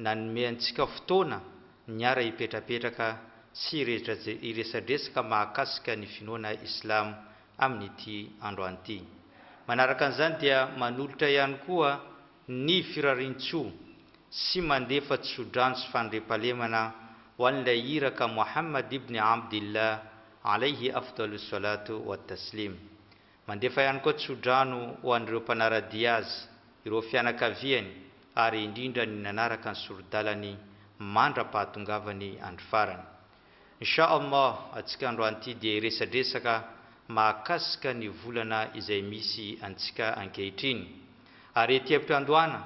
nanome antsika fotoana niara hipetrapetraka sy hiresadresaka mahakasika ny finoana Islamo amin'ity androany ity. Manaraka an'izany dia manolotra ihany koa ny firarian-tsoa sy mandefa tsodrano sy fandriampahalemana ho an'ilay Iraka Mohammad ibn Abdillah alaihi afdalus salatu wat taslim, Mandefa ihany koa tsodrano ho an'ireo mpanara-dia azy, ireo fianakaviany ary indrindra ny nanaraka ny sori-dalany mandra-pahatongavany andro farany. Insha Allah antsika androan'ity dia hiresadresaka mahakasika ny volana izay misy antsika ankehitriny. Ary ety am-piandohana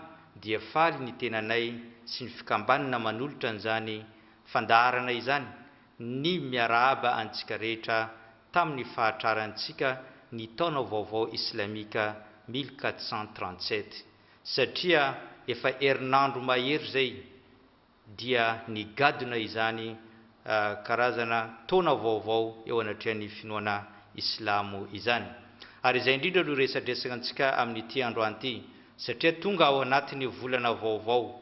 dia faly ny tenanay sy ny fikambanana manolotra an'izany fandaharana izany ny miarahaba antsika rehetra tamin'ny fahatrarantsika ny taona vaovao islamika mille quatre cent trente sept, satria efa herinandro mahery izay dia nigadona izany karazana taona vaovao eo anatrehan'ny finoana islamo izany. Ary izay indrindra no resadresaka antsika amin'ity androany ity, satria tonga ao anatin'ny volana vaovao,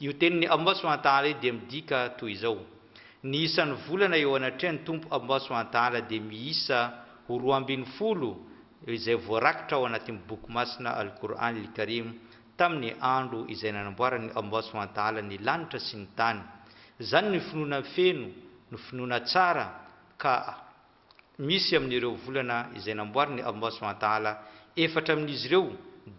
Io tenin'i Allah subhanahu wa ta'ala io dia midika toy izao, Ny isan'ny volana eo anatrehan'ny Tompo Allah subhanahu wa ta'ala dia miisa ho roa ambin'ny folo izay voarakitra ao anatin'ny Boky Masina Al-Qur'an Al-Karim tamin'ny andro izay nanamboaran'i Allah subhanahu wa ta'ala ny lanitra sy ny tany. Izany ny finoana feno, ny finoana tsara, ka. Misy amin'ireo volana izay namboarin'ny Allah Subhanahu wa Ta'ala efatra amin'izy ireo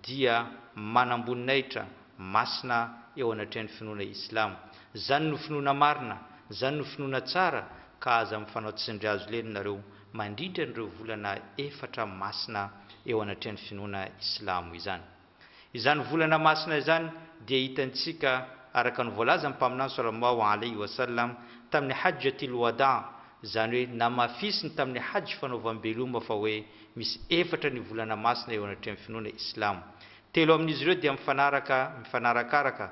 dia manamboninahitra masina eo anatrehan'ny finoana Islamo. Zany no finoana marina, zany no finoana tsara ka aza mifanao tsindry hazo lena nareo mandritra an'ireo volana efatra masina eo anatrehan'ny finoana Islamo izany. Izany volana masina izany dia hitantsika araka ny voalazan'ny Mpaminany Saw alaihi wa sallam tamin'ny Hajjatil Wada', izany hoe namafisiny tamin'ny Hajj fanaovam-beloma fa hoe misy efatra ny volana masina eo anatrehan'ny finoana Islamo. Telo amin'izy ireo dia mifanaraka mifanarakaraka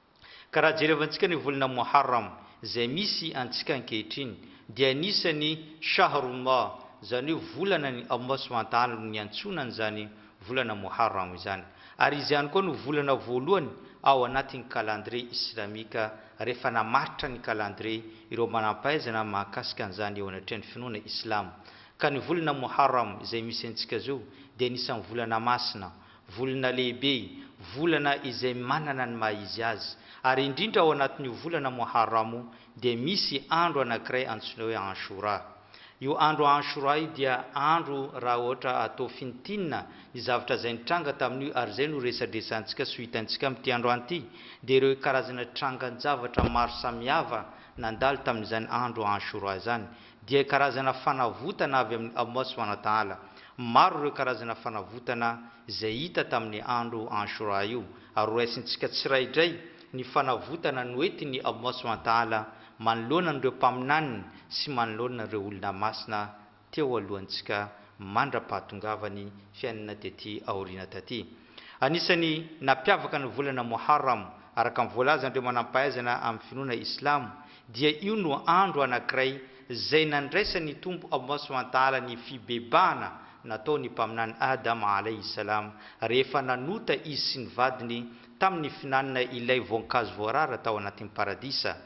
Ka raha jerevantsika ny volana Moharram izay misy antsika ankehitriny dia anisan'ny Shahrullah, izany hoe volanan'i Allah subhanahu wa ta'ala no niantsoana an'izany volana Moharram izany. Ary izy ihany koa no volana voalohany ao anatin'ny calendrier islamika rehefa namaritra ny calendrier ireo manampahaizana mahakasika an'izany eo anatrehan'ny finoana islamo. Ka ny volana Moharram izay misy antsika zao dia anisan'ny volana masina, Volana lehibe, volana izay manana ny maha izy azy, ary indrindra ao anatin'io volana Muharram io dia misy andro anankiray antsoina hoe Ashura. Io andro Ashura io dia andro raha ohatra atao fintinina ny zavatra izay nitranga tamin'io ary izay no resadresantsika sy ho hitantsika amin'ity androany ity dia ireo karazana trangan-javatra maro samihafa nandalo tamin'izany andro Ashura izany dia karazana fanavotana avy amin'i Allah Subhanahu wa Ta'ala. Maro ireo karazana fanavotana izay hita tamin'ny andro Ashura io, ary horaisintsika tsiraidray ny fanavotana noentin'i Allah Subhanahu wa Ta'ala manoloana an'ireo mpaminaniny sy manoloana ireo olona masina teo alohantsika mandra-pahatongavany fiainana tety aoriana taty. Anisan'ny nampiavaka ny volana Moharram, araka ny voalazan'ireo manam-pahaizana amin'ny finoana islamo, dia io no andro anankiray izay nandraisan'ny Tompo Allah subhanahu wa ta'ala ny fibebahana nataon'ny Mpaminany Adam alayhi salam rehefa nanota izy sy ny vadiny tamin'ny finanina ilay voankazo voarara tao anatin'ny Paradisa,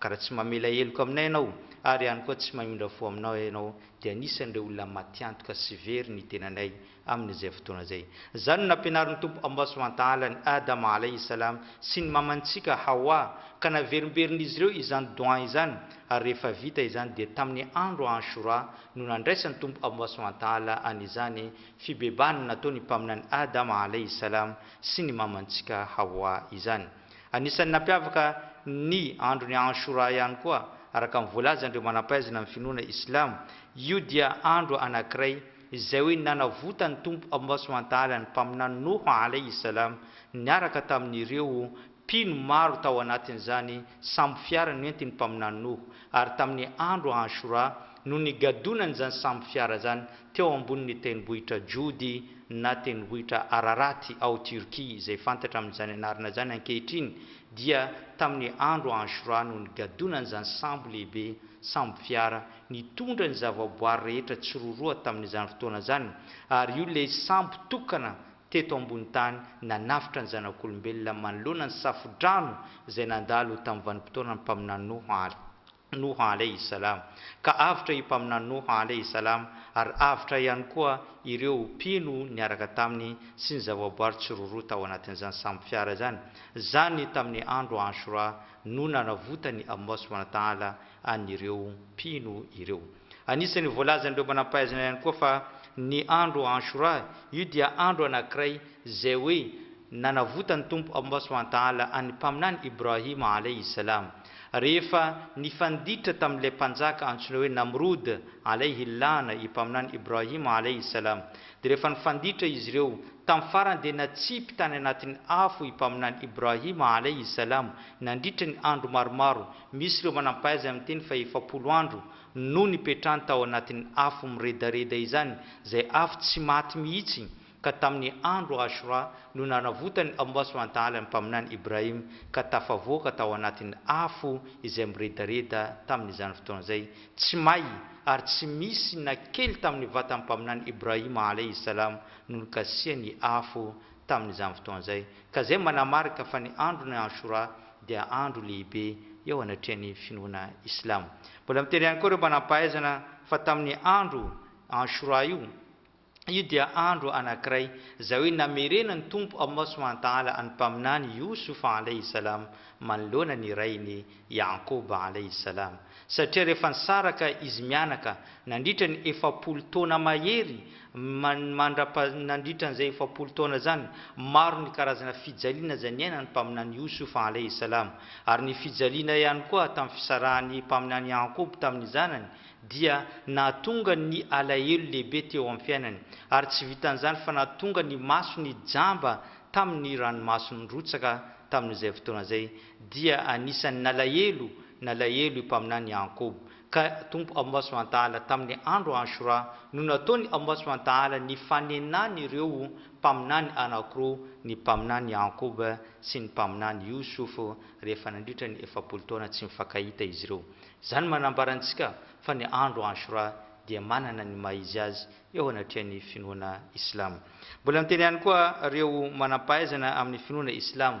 Ka raha tsy mamela heloka aminay ianao, ary ihany koa tsy mamindra fo aminao ianao, dia anisan'ireo olona matiantoka sy very ny tenanay amin'izay fotoana izay. Izany no nampianarin'ny Tompo Ambasoantala an'i Adama Alaihi Salaam sy ny mamantsika Hawa, ka naverimberin'izy ireo izany doa izany, ary rehefa vita izany dia tamin'ny andro Ashura no nandraisan'ny Tompo Ambasoantala an'izany fibebahana nataon'ny Mpaminany Adama Alaihi Salaam sy ny mamantsika Hawa izany. Anisan'ny nampiavaka ny andron'i Anshura ihany koa, araka ny voalazan'ireo manam-pahaizana amin'ny finoana islamo, io dia andro anankiray izay hoe nanavotan'ny Tompo Allah subhanahu wa ta'ala ny Mpaminany Noho alayhi salam niaraka tamin'ireo mpino maro tao anatin'izany sambo fiara nentin'ny Mpaminany Noho, ary tamin'ny andro Anshura no nigadonany izany sambo fiara izany teo ambonin'ny tendrombohitra Jody na tendrombohitra Araraty ao Turquie, izay fantatra amin'izany anarana izany ankehitriny, dia tamin'ny andro Ashura no nigadonan'izany sambo lehibe, sambo fiara, nitondra ny zavaboary rehetra tsiroaroa tamin'izany fotoana izany, ary io ilay sambo tokana teto ambony tany nanavotra ny zanak'olombelona manoloana ny safo-drano izay nandalo tamin'ny vanim-potoanan'ny mpaminany Noa, Al. Noha alaihi salam. Ka avotra i Mpaminany Noha alaihi salam ary avotra ihany koa ireo mpino niaraka taminy sy ny zavaboary tsiroroa tao anatin'izany sambo fiara izany, zany tamin'ny andro Ashura no nanavotany Allah subhanahu wa ta'ala an'ireo mpino ireo. Anisan' ny voalazan' ireo manampahaizana ihany koa fa ny andro Ashura, io dia andro anankiray izay hoe nanavotan' ny Tompo Allah Subhanahu wa Ta'ala an' ny Mpaminany Ibrahim Alayhi Salam, rehefa nifanditra tamin' ilay mpanjaka antsoina hoe Namrud Alayhi L-ana i Mpaminany Ibrahim Alayhi Salam, dia rehefa nifanditra izy ireo tamin' farany dia natsipy tany anatin' ny afo i Mpaminany Ibrahim Alayhi Salam nandritra ny andro maromaro Misy ireo manampahaiza miteny fa efapolo andro no nipetrahany tao anatin'ny afo miredareda izany, izay afo tsy maty mihitsy, ka tamin'ny andro Ashura no nanavotany ao Allah Subhanahu wa Ta'ala ny Mpaminany Ibrahim ka tafavoaka tao anatin'ny afo izay miredareda tamin'izany fotoana izay, tsy may ary tsy misy na kely tamin'ny vatan'ny Mpaminany Ibrahim Alaihi Salam no nikasihan'ny afo tamin'izany fotoana izay, ka izay manamarika fa ny andron'ny Ashura dia andro lehibe eo anatrehan'ny finoana islamo. Mbola mitery ihany koa ireo manam-pahaizana fa tamin'ny andro Ashura io, io dia andro anankiray izay hoe namerenan'ny Tompo Allah Subhanahu wa Ta'ala an'ny Mpaminany Yousouf Alayhi Salam manoloana ny rainy Ya'qub Alayhi Salam. Satria rehefa nisaraka izy mianaka nandritra ny efapolo taona mahery, mandrapa nandritra an'izay efapolo taona izany, maro ny karazana fijaliana izay niainan'ny Mpaminany Yousouf alaih salam. Ary ny fijaliana ihany koa tamin'ny fisarahan'ny Mpaminany Ya'qub tamin'ny zanany dia nahatonga ny alahelo lehibe teo amin'ny fiainany, ary tsy vitan'izany fa nahatonga ny masony jamba tamin'ny ranomaso nirotsaka tamin'izay fotoana izay, Dia anisan'ny nalahelo, nalahelo io mpaminany Iaakoba. Ka Tompo Allah subhanahu wa ta'ala tamin'ny andro Ashura no nataony Allah subhanahu wa ta'ala ny fanenan'ireo mpaminany anankiroa, ny mpaminany Iaakoba sy ny mpaminany Yusuf, rehefa nandritra ny efapolo taona tsy mifankahita izy ireo. Izany manambara antsika fa ny andro Ashura dia manana ny maha izy azy eo anatrehan'ny finoana Islamo. Mbola niteny ihany koa ireo manam-pahaizana amin'ny finoana Islamo,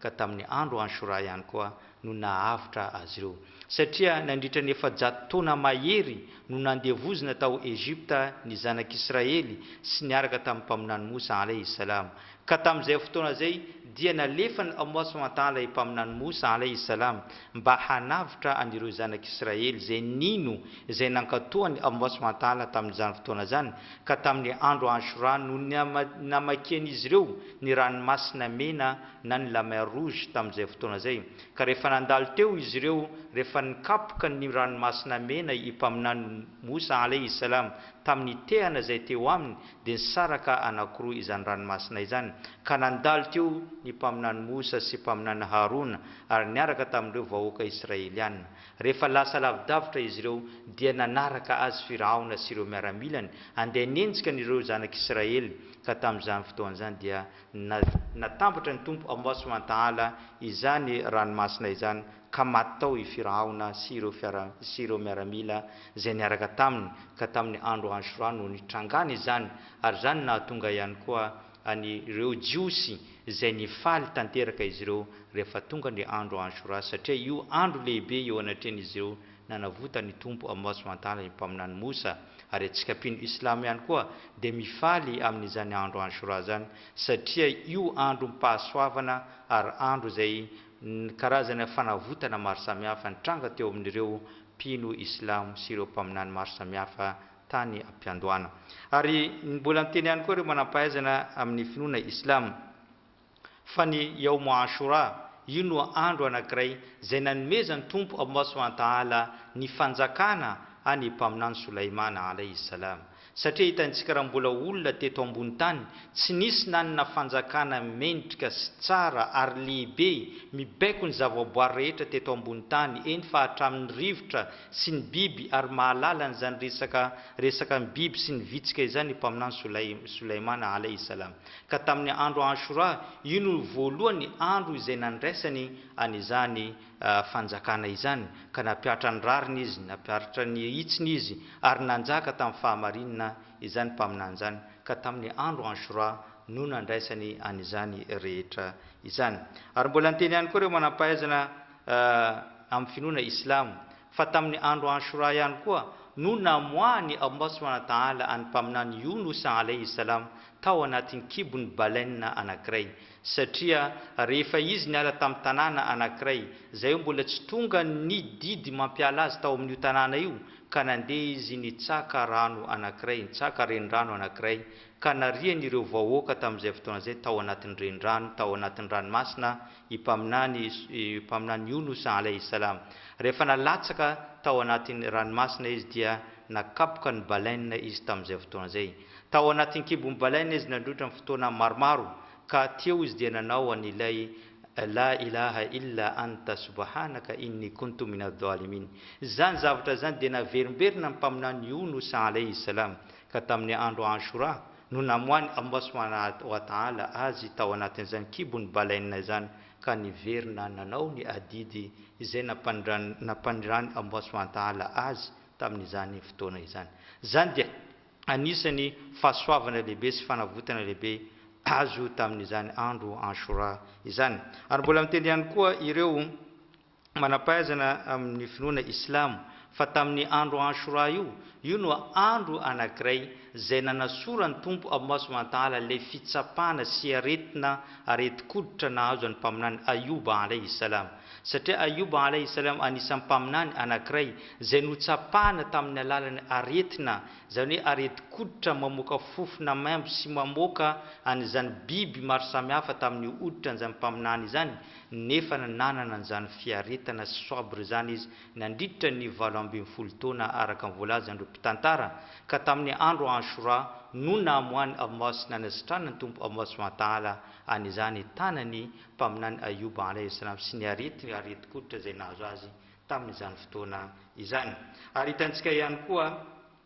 ka tamin'ny andro Ashura ihany koa no nahavotra azy ireo. Satria nandritra ny efajato taona mahery no nandevozina tao Egypta ny zanak'Israely sy niaraka tamin'ny Mpaminany Moussa alaihi s-salam, ka tamin'izay fotoana izay dia nalefan'i Allah subhanahu wa ta'ala i Mpaminany Moussa alaihi s-salam mba hanavotra an'ireo zanak'Israely izay nino izay nankatoan'i Allah subhanahu wa ta'ala tamin'izany fotoana izany, ka tamin'ny andro Ashura no namakian'izy ireo ny Ranomasina Mena na ny La Mer Rouge tamin'izay fotoana izay, ka rehefa nandalo teo izy ireo rehefa nikapoka ny Ranomasina Mena i Mpaminany Moussa alaih salam tamin'ny tehana izay teo aminy dia nisaraka anakiroa izany ranomasina izany ka nandalo teo ny Mpaminany Moussa sy Mpaminany Harouna ary niaraka tamin'ireo vahoaka Israeliana Rehefa lasa lavidavitra izy ireo, dia nanaraka azy Firaona sy ireo miaramilany handeha hanenjika an'ireo zanak'i Israely, ka tamin'izany fotoana izany dia natambatra ny Tompo ao Masoiantahala izany ranomasina izany, ka maty tao i Firaona sy ireo fiara sy ireo miaramila izay niaraka taminy, ka tamin'ny andro Ashora no nitrangana izany, ary izany nahatonga ihany koa. an'ireo Jiosy izay nifaly tanteraka izy ireo rehefa tonga ny andro Ashura, satria io andro lehibe eo anatrehan'izy ireo nanavotan'ny Tompo Amboasimantala ny Mpaminany Mosa, ary antsika mpino Islamo ihany koa dia mifaly amin'izany andro Ashura izany satria io androm-pahasoavana ary andro izay karazana fanavotana maro samihafa nitranga teo amin'ireo mpino Islamo sy ireo Mpaminany maro samihafa tany am-piandohana. Ary mbola niteny ihany koa ireo manam-pahaizana amin'ny finoana Islam fa ny Yaum Ashura, io no andro anankiray izay nanomezan'ny Tompo Allmah Subhanahu wa Ta'ala ny fanjakana an'i Mpaminany Solaimana Alayhi Salam. Satria hitantsika raha mbola olona teto ambony tany, tsy nisy nanana fanjakana mendrika sy tsara ary lehibe mibaiko ny zavaboary rehetra teto ambony tany, eny fa hatramin'ny rivotra sy ny biby ary mahalala an'izany resaka resaka ny biby sy ny vitsika izany i Mpaminany Solaim Solaimana alaihi salaam. Ka tamin'ny andro Ashura, io no voalohany andro izay nandraisany an'izany fanjakana izany, ka nampihatra ny rariny izy, nampiharitra ny hitsiny izy, ary nanjaka tamin'ny fahamarinana izany Mpaminany izany, ka tamin'ny andro Ashura no nandraisany an'izany rehetra izany. Ary mbola niteny ihany koa ireo manam-pahaizana, amin'ny finoana islamo, fa tamin'ny andro Ashura ihany koa no namoahan'i Allah subhanahu wa ta'ala an'ny Mpaminany Younousa alayhi salam tao anatin'ny kibon'ny baleine anankiray, satria rehefa izy niala tamin'ny tanàna anankiray izay hoe mbola tsy tonga ny didy mampiala azy tao amin'io tanàna io, ka nandeha izy nitsaka rano anankiray, nitsaka renirano anankiray, ka narian'ireo vahoaka tamin'izay fotoana izay tao anatin'ny renirano, tao anatin'ny ranomasina, i Mpaminany i Mpaminany Younous alayhi salam, rehefa nalatsaka tao anatin'ny ranomasina izy dia nakapoka ny baleine izy tamin'izay fotoana izay. Tao anatin'ny kibon'ny baleine izy nandroitra ny fotoana maromaro ka aty eo izy dia nanao an'ilay La ilaha illa anta subhanaka inni kuntu minadh dhalimin. Izany zavatra izany dia naverimberina ny Mpaminany Younous alayhi salam ka tamin'ny andro Ashura, no namoahan'i Allah subhanahu wa ta'ala azy tao anatin'izany kibon'ny baleine izany ka niverina nanao ny adidy izay nampanirahan'i Allah subhanahu wa ta'ala azy tamin'izany fotoana izany. Izany dia anisan'ny fahasoavana lehibe sy fanavotana lehibe azo tamin'izany andro Ashura izany. Ary mbola miteny ihany koa ireo. Manam-pahaizana amin' ny finoana islamo fa tamin' ny andro Ashura io, io no andro anankiray izay nanasora ny Tompo Allah subhanahu wa ta'ala ilay fitsapana sy aretina aretin-koditra nahazo an'i Mpaminany Ayouba alaihi s-salam. Satria Ayouba alaihi s-salam anisan'ny Mpaminany anankiray izay notsapana tamin' ny alalan'ny aretina, izany hoe aretin-koditra mamoaka fofona maimbo sy mamoaka an' izany biby maro samihafa tamin' io hoditra an'izany Mpaminany izany, nefa nanana an'izany fiaretana sy sabre izany izy nandritra ny valo ambin'ny folo taona araka ny voalazan'ireo mpitantara, ka tamin'ny andro Ashura no namoahan'i Ammâs nanasitranan'ny Tompo Allah subhanahu wa ta'âlâ an'izany tanan'ny Mpaminany Ayyûb alayhi salâm sy ny aretin-koditra izay nahazo azy tamin'izany fotoana izany. Ary hitantsika ihany koa.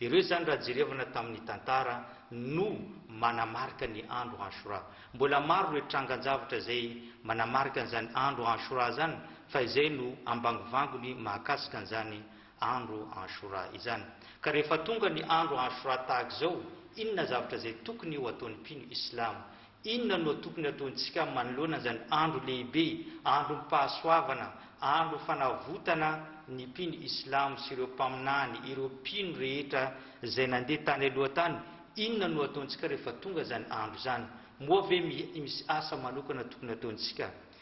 Ireo izany raha jerevana tamin'ny tantara no manamarika ny andro Ashura. Mbola maro ireo trangan-javatra izay manamarika an'izany andro Ashura izany fa izay no ambangovangony mahakasika an'izany andro Ashura izany. Ka rehefa tonga ny andro Ashura tahaka izao inona zavatra izay tokony ho ataon'ny mpino islamo? Inona no tokony hataontsika manoloana izany andro lehibe, androm-pahasoavana, andro fanavotana ny mpino islamo sy ireo mpaminany, ireo mpino rehetra izay nandeha tany aloha tany? Inona no hataontsika rehefa tonga izany andro izany? Moa ve misy asa manokana tokony hataontsika?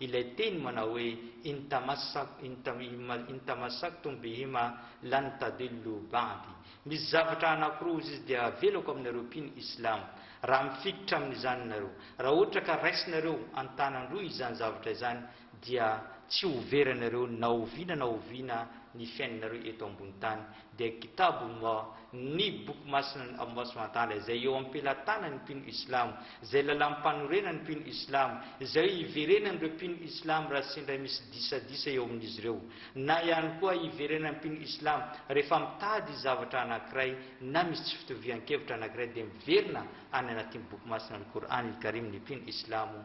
Ilay teny manao hoe in tamassak in tam im in tamassak tum bihim a lan tadillu ba'di. Misy zavatra anankiroa hozy izy dia avelako aminareo mpino islam, raha mifikitra amin'izany nareo. Raha ohatra ka raisinareo an-tanan-droa izany zavatra izany dia tsy ho vera anareo na oviana na oviana ny fiainanareo eto ambony tany, dia Kitab ma, ny Boky Masina ny Allah subhanahu wa ta'ala izay eo am-pelatanany ny mpino islamo, izay lalam-panorenan'ny mpino islamo, izay iverenan'ireo mpino islamo raha sendra misy disadisa eo amin'izy ireo, na ihany koa iverenan'ny mpino islamo rehefa mitady zavatra anankiray na misy tsy fitovian-kevitra anankiray dia miverina any anatin'ny Boky Masina Al-Qur'an Al-Karim ny mpino islamo,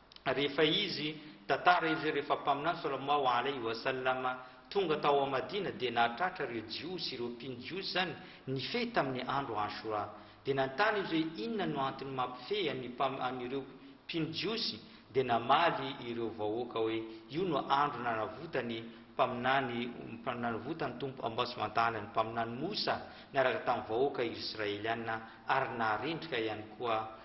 rehefa izy tantara izy rehefa mpaminany salamau alaihi wa sallam tonga tao Madina dia nahatratra ireo jiosy ireo mpino jiosy izany nifehy tamin'ny andro Ashura dia nanontany izy hoe inona no antony mampifehy an'ny mpam an'ireo mpino jiosy dia namaly ireo vahoaka hoe io no andro nanavotany mpaminany nanavotan'ny Tompo Allâh subhana ta'âlâ ny mpaminany Moussa niaraka tamin'ny vahoaka Irsraeliana ary naharendrika ihany koa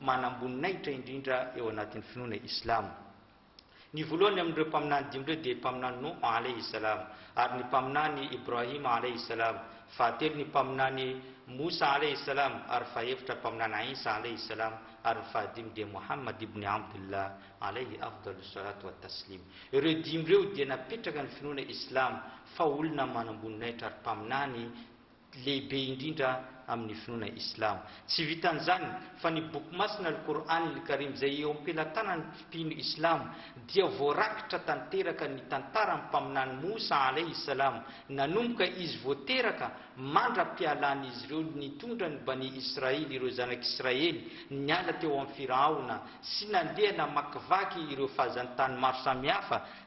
manamboninahitra indrindra eo anatin'ny finoana islamo. Ny voalohany amin'ireo mpaminany dimy ireo dia mpaminany Nouh alaihi salam, ary ny mpaminany Ibrahim alaihi salam, fahatelo ny mpaminany Moussa alaihi salam, ary fahefitra mpaminany Isa alaihi salam, ary ny fahadimy dia Mouhammad ibn Abdullah alaihi afdalus salatu wa taslim. Ireo dimy ireo dia napetraka ny finoana islamo fa olona manamboninahitra ary mpaminany lehibe indrindra amin' ny finoana islamo. Tsy vitan' izany, fa ny Boky masina Al-Qour'an il-Karim, izay eo am-pelatanan' ny mpino islamo, dia voarakitra tanteraka ny tantaran' ny Mpaminany Moussa alaihi s-Salam, nanomboka izy vao teraka mandra-pialan' izy ireo nitondra ny Bani Israil, ireo Zanak' Israely, niala teo amin' ny Firaona sy nandeha namakivaky ireo fahazantany maro samihafa,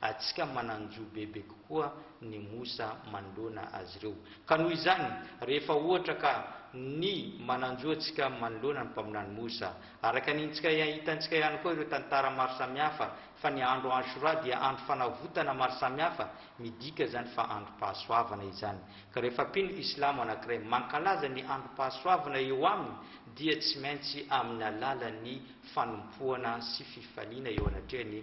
Antsika manan-jo bebe kokoa ny mosa manoloana azy ireo. Ka noho izany, rehefa ohatra ka ny manan-jo antsika manoloana ny mpaminany mosa, araka ny ntsika ia hitantsika ihany koa ireo tantara maro samihafa fa ny andro Ashura dia andro fanavotana maro samihafa, midika izany fa androm-pahasoavana izany. Ka rehefa mpino islamo anankiray mankalaza ny androm-pahasoavana eo aminy dia tsy maintsy amin'ny alalan'ny fanompoana sy fifaliana eo anatrehany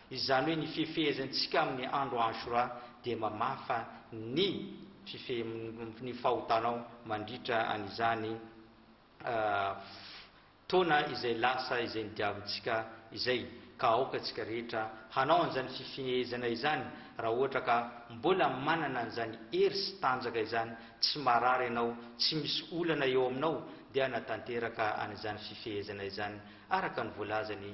Izany hoe ny fifehezantsika amin'ny andro Ashura dia mamafa ny fifehezanao ny fahotanao mandritra an'izany fotoana izay lasa izay nodiavintsika izay, ka aoka antsika rehetra hanao an'izany fifehezana izany raha ohatra ka mbola manana an'izany hery sy tanjaka izany, tsy marary ianao, tsy misy olana eo aminao dia hanatanteraka an'izany fifehezana izany araka ny voalazan'i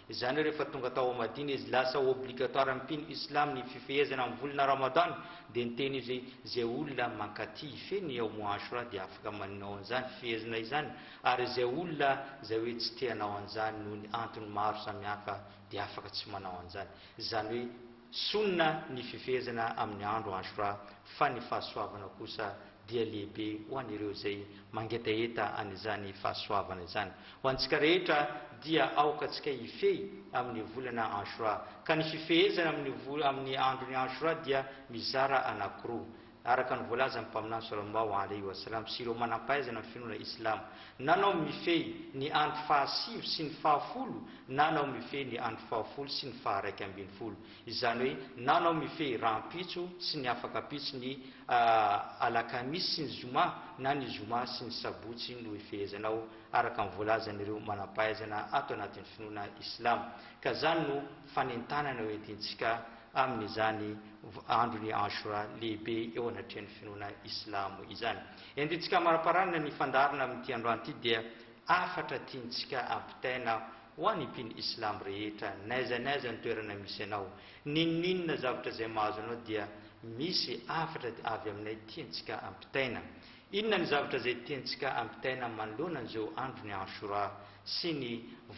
Izany hoe rehefa tonga tao Madina izy, lasa obligatoire amin'ny mpino Islam ny fifehezana amin'ny volana Ramadan, dia niteny izy hoe, Izay olona mankaty hifehy ny Yaum Ashura dia afaka manao an'izany fifehezana izany, ary izay olona izay hoe tsy te hanao an'izany noho ny antony maro samihafa dia afaka tsy manao an'izany. Izany hoe Sunnah ny fifehezana amin'ny andro Ashura, fa ny fahasoavana kosa dia lehibe ho an'ireo izay mangetaheta an'izany fahasoavana izany. Ho antsika rehetra dia aoka antsika hifehy amin'ny volana Anshura, ka ny fifehezana amin'ny vo amin'ny andron'ny Anshura dia mizara anankiroa, araka ny voalazan'ny Mpaminany Sallallahu alaihi wa sallam sy ireo manam-pahaizana ny finoana Islamo, na nao mifehy ny andro fahasivy sy ny fahafolo na nao mifehy ny andro fahafolo sy ny faharaika ambin'ny folo. izany hoe na anao mifehy rahampitso sy ny afakampitso ny alakamisy sy ny zoma na ny zoma sy ny sabotsy no hifehezanao araka ny voalazan'ireo manampahaizana ato anatin'ny finoana islamo ka izany no fanentanana hoentintsika amin'izany andron'i Ashura lehibe eo anatrehan'ny finoana islamo izany. Entintsika amariparanana ny fandaharana amin'ity androany ity dia hafatra tiantsika ampitaina Ho an'ny mpino Islam rehetra, n'aiza n'aiza ny toerana misy anao, n'inon'inona zavatra izay mahazo anao dia misy hafatra avy Aminay tiantsika ampitaina. Inona ny zavatra izay tiantsika ampitaina manoloana an'izao andron'i Ashura sy ny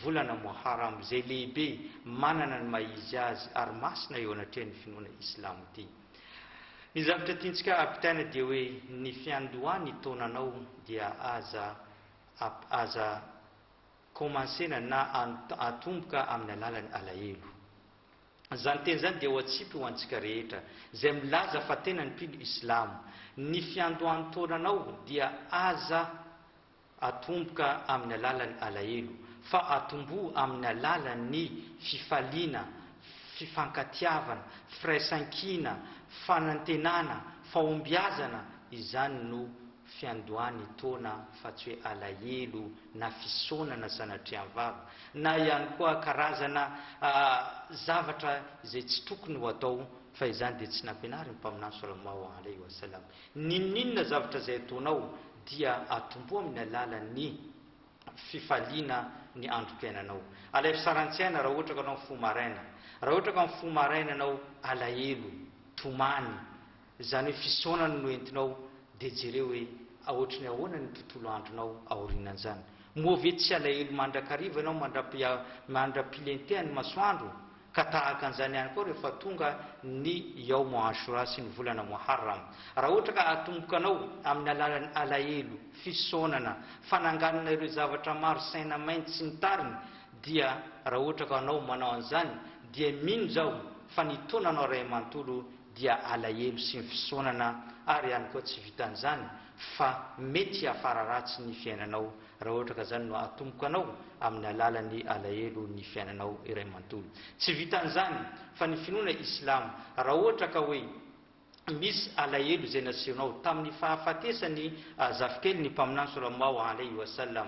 volana Muharram izay lehibe manana ny maha izy azy ary masina eo anatrehan'ny finoana Islamo ity? Ny zavatra tiantsika ampitaina dia hoe ny fiandohan'ny taonanao dia aza aza Commencer-na na atomboka amin'ny alalan'ny alahelo. Izany teny izany dia ho atsipy ho antsika rehetra izay milaza fa tena ny mpino islamo. Ny fiandohan'ny taonanao dia aza atomboka amin'ny alalan'ny alahelo fa atomboha amin'ny alalan'ny fifaliana, fifankatiavana, firaisankina, fanantenana, fahombiazana, izany no fiandohan'ny taona fa tsy hoe alahelo na fisaonana sanatria mivava na ihany koa karazana zavatra izay tsy tokony ho atao fa izany dia tsy nampianarin'ny Mpaminany Sallallahu Alaihi Wasallam. N'inon'inona zavatra izay ataonao dia atomboha amin'ny alalan'ny fifaliana ny androm-piainanao. Alaivo tsara ny tsaina raha ohatra ka anao mifoha maraina. Raha ohatra ka mifoha maraina anao, alahelo, tomany. Zany hoe fisaonana no entinao de jereo hoe aotry ny ahoana ny tontolo andronao aorinan'zany. Moa ve tsy alahelo mandrakariva enao mandra-pilentehan ny masoandro ka tahaka an'zany ihany koa rehefa tonga ny Yaum Ashura sy ny volana Muharram. Raha ohatra ka atomboka anao amin'ny alalan'ny alahelo, fisaonana, fananganana ireo zavatra maro saina maina sy ny tariny dia raha ohatra ka anao manao an'zany dia mino zaho fa ny taonanao ray manontolo dia alahelo sy ny fisaonana ary ihany koa tsy vitan'izany fa mety hiafara ratsy ny fiainanao raha ohatra ka izany no atomboka anao amin'ny alalan'ny alahelo ny fiainanao iray manontolo. Tsy vitan'izany fa ny finoana islamo raha ohatra ka hoe misy alahelo izay nasehonao tamin'ny fahafatesan'ny zafikeliny mpaminany salallahu alaihi wa sallam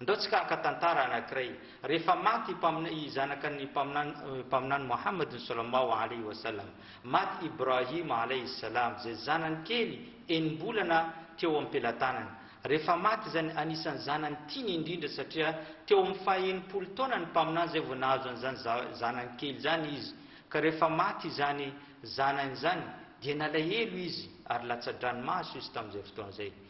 Ndao tsika haka tantara anankiray. Rehefa maty i zanaka ny Mpaminany Mohammad Sallallahu Alaihi Wasallam, maty Ibrahim Alaihi Salam izay zanany kely enim-bolana teo am-pelatanany. Rehefa maty izany anisan'ny zanany tiany indrindra satria teo amin'ny faha enimpolo taona ny Mpaminany izay vao nahazo an'izany zanany kely izany izy ka rehefa maty izany zanany izany dia nalahelo izy ary latsa-dranomaso izy tamin'izay fotoana izay.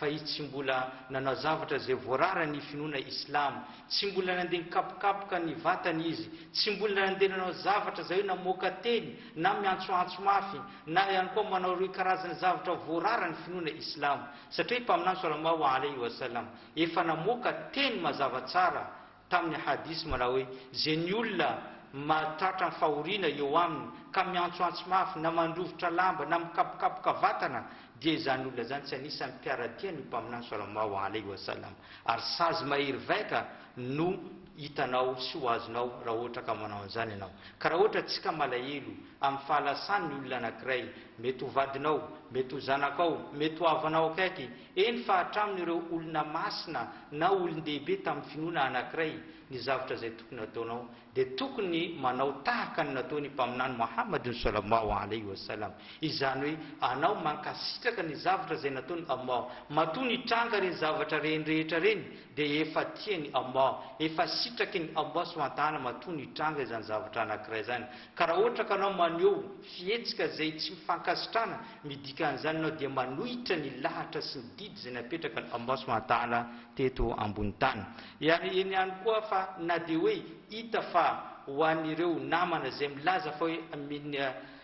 fa izy tsy mbola nanao zavatra izay voararan' ny finoana islamo, tsy mbola nandeha nikapokapoka ny vatany izy, tsy mbola nandeha nanao zavatra izay hoe namoaka teny na miantsoantso mafy, na ihany koa manao ireo karazana zavatra voararan' ny finoana islamo, satria i Mpaminany swallallahu alaihi wa sallam efa namoaka teny mazava tsara Tamin'ny hadith manao hoe, Ze ny olona mahatratra ny fahoriana eo aminy ka miantsoantso mafy na mandrovitra lamba na mikapokapoka vatana dia izany olona izany tsy anisan'ny mpiara-dia ny Mpaminany Sallmaahu Alaih Wasallam ary sazy mahery vaika no hitanao sy ho azonao raha ohatra ka manao an'izany ianao. Ka raha ohatra tsy ka malahelo amin'ny fahalasany ny olona anankiray, mety ho vadinao, mety ho zanakao, mety ho havanao akaiky, Eny fa hatramin'ireo olona masina na olon-dehibe tamin'ny finoana anankiray ny zavatra izay tokony hataonao dia tokony manao tahaka ny nataon'i Mpaminany Mohammad Sallallahu Alaihi Wasallam, izany hoe anao mankasitraka ny zavatra izay nataon'i Allah, matoa nitranga ireny zavatra ireny rehetra ireny dia efa tian'i Allah, efa sitrakin'i Allah Subhanahu Wa Ta'ala matoa nitranga izany zavatra anankiray izany, ka raha ohatra ka anao maneho fihetsika izay tsy fankasitrahana Ny dikan'izany, ianao dia manohitra ny lahatra sy ny didy izay napetrakan'i Ambao sy Mantala teto ambony tany. Ary eny ihany koa fa na dia hoe hita fa ho an'ireo namana izay milaza fa hoe min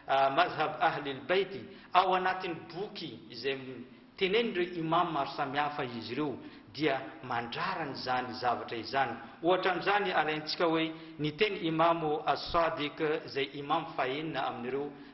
Mazhab Ahlil Bayt ao anatin'ny boky izay tenenin'ireo Imam maro samihafa izy ireo dia mandrarana izany zavatra izany. Ohatra amin'izany alaintsika hoe ny teny Imam As-Sadiq izay Imam fahenina amin'ireo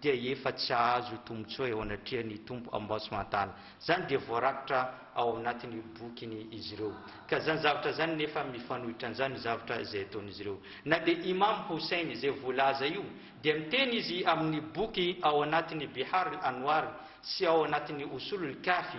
dia efa tsy hahazo tombotsoa eo anatrehan'ny Tompo Amboasmantala. Izany dia voarakitra ao anatin'ny bokiny izy ireo. Ka izany zavatra izany nefa mifanohitra an'izany ny zavatra izay ataon'izy ireo. Na dia Imam Houssayn izay voalaza io dia miteny izy amin'ny boky ao anatin'ny Bihar'l-Anwar sy ao anatin'ny Usul-'l-Kafi,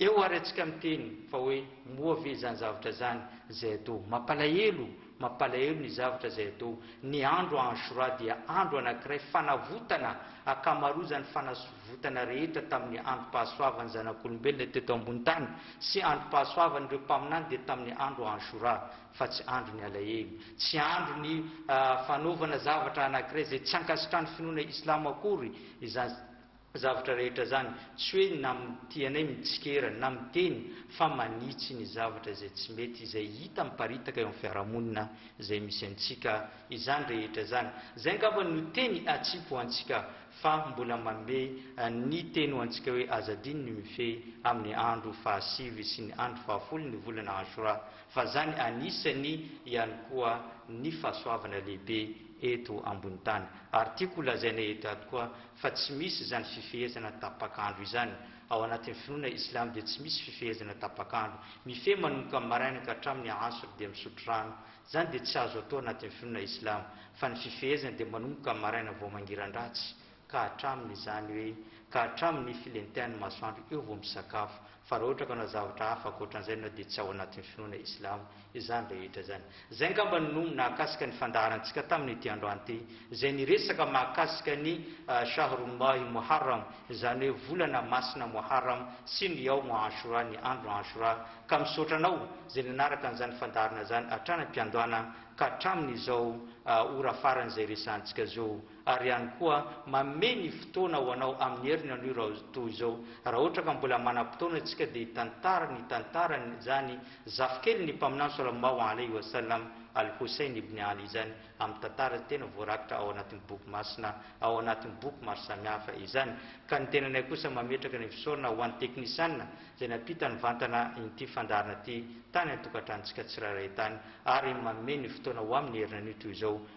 Eo ary antsika miteny fa hoe moa ve izany zavatra izany izay atao? Mampalahelo, mampalahelo ny zavatra izay atao. Ny andro Ashura dia andro anankiray fanavotana akamarozan'ny fanasvotana rehetra tamin'ny androm-pahasoavan'ny zanak'olombelona teto ambony tany sy androm-pahasoavan'ireo mpaminany dia tamin'ny andro Ashura fa tsy andro ny alahelo, tsy andro ny fanaovana zavatra anankiray izay tsy ankasitrahan'ny finoana Islamo akory izany. Zavatra rehetra zany, tsy hoe na mitia anay mitsikera na miteny fa manitsy ny zavatra izay tsy mety izay hita miparitaka eo amin'ny fiarahamonina izay misy antsika izany rehetra zany. Zay angamba no teny atsipy ho antsika fa mbola manome ny teny ho antsika hoe aza adino ny mifehy amin'ny andro fahasivy sy ny andro fahafolo ny volana Ashura fa zany anisany ihany koa ny fahasoavana lehibe eto ambony tany ary tiako ho lazaina eto ato koa fa tsy misy izany fifehezana tapak'andro izany, ao anatin'ny finoana Islam dia tsy misy fifehezana tapak'andro, mifehy manomboka amin'ny maraina ka hatramin'ny Asr dia misotro rano, izany dia tsy azo atao anatin'ny finoana Islam, fa ny fifehezana dia manomboka amin'ny maraina vao mangiran-dratsy ka hatramin'ny izany hoe ka hatramin'ny filentehan'ny masoandro eo vao misakafo, Fa raha ohatra ka hanao zavatra hafa ankoatran'izay ianao dia tsy ao anatin'ny finoana islamo izany rehetra izany. Izay angamba no nahakasika ny fandaharantsika tamin'ity androany ity izay niresaka mahakasika ny Shahrullahi Muharram izany hoe volana masina Muharram sy ny Yawm Ashura ny andro Ashura ka misaotra anao izay nanaraka an'izany fandaharana izany hatrany am-piandohana ka hatramin'izao ora farany izay resahantsika zo ary ihany koa manome ny fotoana ho anao amin'ny heriny anio raotoa izao raha ohatra ka mbola manam-potoana isika dia hitantara ny tantaran izany zafikely ny mpaminany Salallahu alaihi wa sallam Al-Houssayn ibn Ali izany amin'ny tantara tena voarakitra ao anatin'ny boky masina ao anatin'ny boky maro samihafa izany ka ny tenanay kosa mametraka ny fisaorana ho an'i teknisiana izay nampita nivantana in'ity fandaharana ity tany an-tokantranontsika tsirairay tany ary manome ny fotoana ho amin'ny heriny anio toy izao